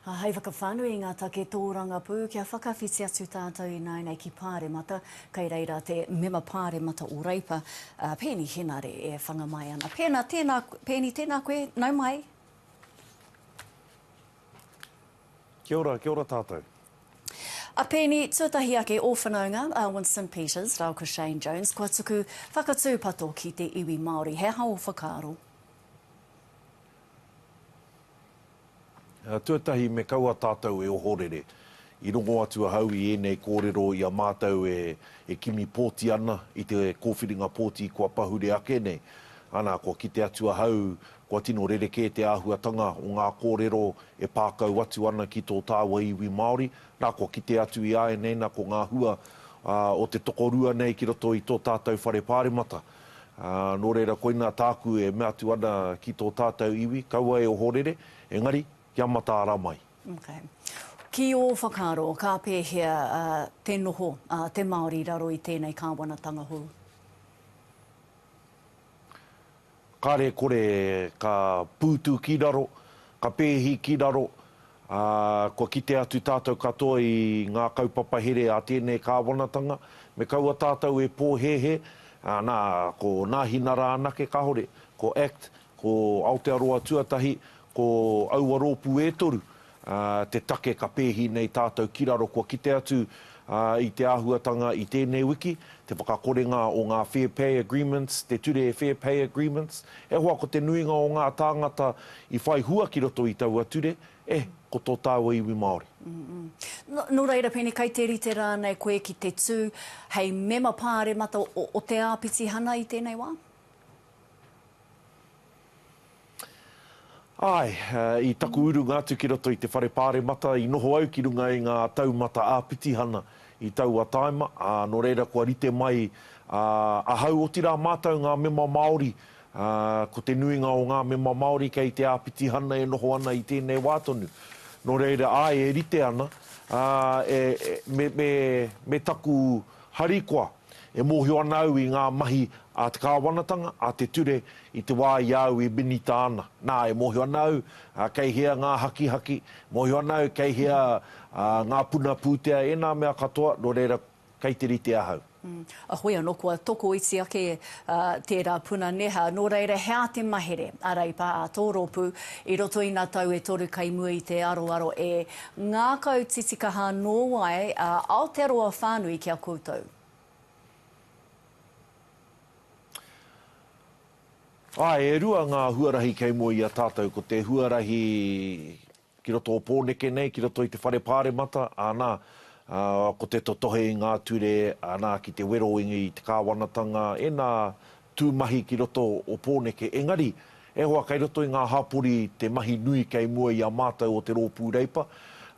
Ā, hei whakawhānui i ngā take tōrangapū kia whakawhiti atu tātou ināianei ki Pāremata, kei reira te Mema Pāremata o Reipa, a Peeni Henare e whanga mai ana. Pēnā, tēnā, Peeni, tēnā koe, nau mai. Kia ora, kia ora tātou. A Peeni, tuatahi ake ō whanaunga, a Winston Peters rāua ko Shane Jones, kua tuku whakatūpato ki te iwi Māori. He aha ō whakaaro? Tuatahi me kaua tātou e ohorere, i rongo atu ahau i ēnei kōrero i a mātou e kimi pōti ana i te kōwhiringa pōti kua pahure ake nei. Ana, kua kite atu ahau, kua tino rerekē te āhuatanga o ngā kōrero e pā kau atu ana ki tō tāua iwi Māori. Nā, kua kite atu i āianei, nā, ko ngā hua o te tokorua nei ki roto i tō tātou whare pāremata. Ā, nō reira koinā tāku e mea atu ana ki tō tātou iwi, kaua e ohorere, engari, kia mataara mai. Okay. Ki ō whakaaro, ka pēhea te noho a te Māori i raro i tēnei kāwanatanga hou? Kare kore ka pūtu ki raro, ka pēhi ki raro, Ā, kua kite atu tātou katoa i ngā kaupapa here a tēnei kāwanatanga, me kaua tātou e pōhēhē, ā, nā, ko Nāhinara anake, kāore, ko act, ko Aotearoa Tuatahi, ko aua rōpū e toru, ā, te take ka pēhi nei tātou ki raro, kua kite atu I te āhuatanga i tēnei wiki, te whakakorenga o ngā Fair Pay Agreements, te Ture Fair Pay Agreements, e hoa ko te nuinga o ngā tāngata i whai hua ki roto i taua ture, e, ko tō tāua iwi Māori. Nō reira, pēnei kai te rite rānei koe ki te tū hei mema pāremata o te āpitihana i tēnei wā? Āe, i taku urunga atu ki roto i te Whare Pāremata, i noho au ki runga i ngā taumata āpitihana i taua tāima, ā, nō reira kua rite mai ahau, otirā mātou ngā mema Māori, ā, ko te nuinga o ngā mema Māori kei te āpitihana e noho ana i tēnei wā tonu. Nō reira, āe, e rite ana, ā, e, me, me, me taku harikoa. E mōhio ana au i ngā mahi a te kāwanatanga, a te ture, i te wā i a au e minita ana. Nā, e mōhio ana au kei hea ngā hakihaki, e mōhio ana au kei hea ngā puna pūtea, ēnā mea katoa, nō reira, kei te rite ahau. A koe anō kua tokoiti ake tērā puna neha, nō reira, hea te mahere a Reipa, a tō rōpū, i roto i nā tau e toru kei mua i te aroaro e Ngākau titikaha nō wai a Aotearoa whānui ki a koutou? Āe, e rua ngā huarahi kei mua i a tātou, ko te huarahi ki roto o Pōneke nei, ki roto i te Whare Pāremata, anā, ko te totohe i ngā ture, anā, ki te wero i te kāwanatanga, ēnā, tū mahi ki roto o Pōneke, engari, e hoa kei roto i ngā hapori te mahi nui kei mua i a mātou o te Rōpū Reipa,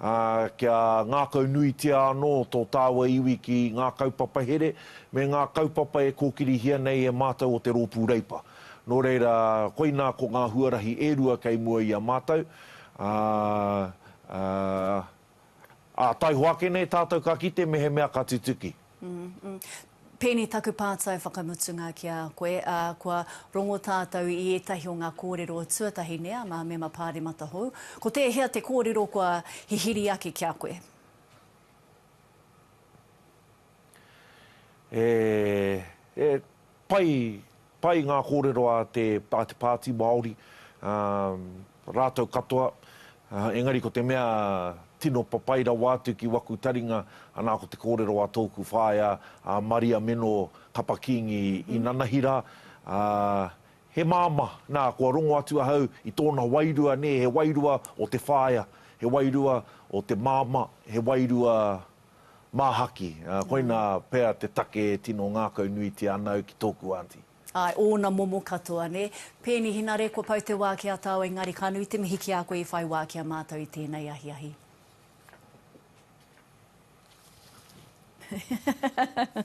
ā, kia ngākau nuitia anō tō tāua iwi ki ngā kaupapa here me ngā kaupapa e kōkirihia nei e mātou o te Rōpū Reipa. Nō reira, koinā ko ngā huarahi e rua kei mua i a mātou, ā, ā, Ā, taihoa ake nei tātou ka kite mehemea ka tutuki. Pēnei taku pātai whakamutunga ki a koe, ā, kua rongo tātou i ētahi o ngā kōrero tuatahi nei a ngā mema pāremata hou. Ko tēhea te kōrero kua hihiri ake ki a koe? He pai, pai ngā kōrero a te, a te Pāti Māori, rātou katoa, engari ko te mea tino papai rawa atu ki waku taringa, anā ko te kōrero a tōku whaea a Maria Meno Kapa Kingi i nanahi rā, he māmā, nā kua rongo atu ahau i tōna wairua nē, he wairua o te whaea, he wairua o te māmā, he wairua Māhaki, koina pea te take e tino ngākau nuitia ana au ki tōku aunty. Āe, ōna momo katoa, nē. Pēni Hinare, kua pau te wā ki a tāu engari ka nui te mihi ki a koe i whai wā ki a mātou i tēnei ahiahi.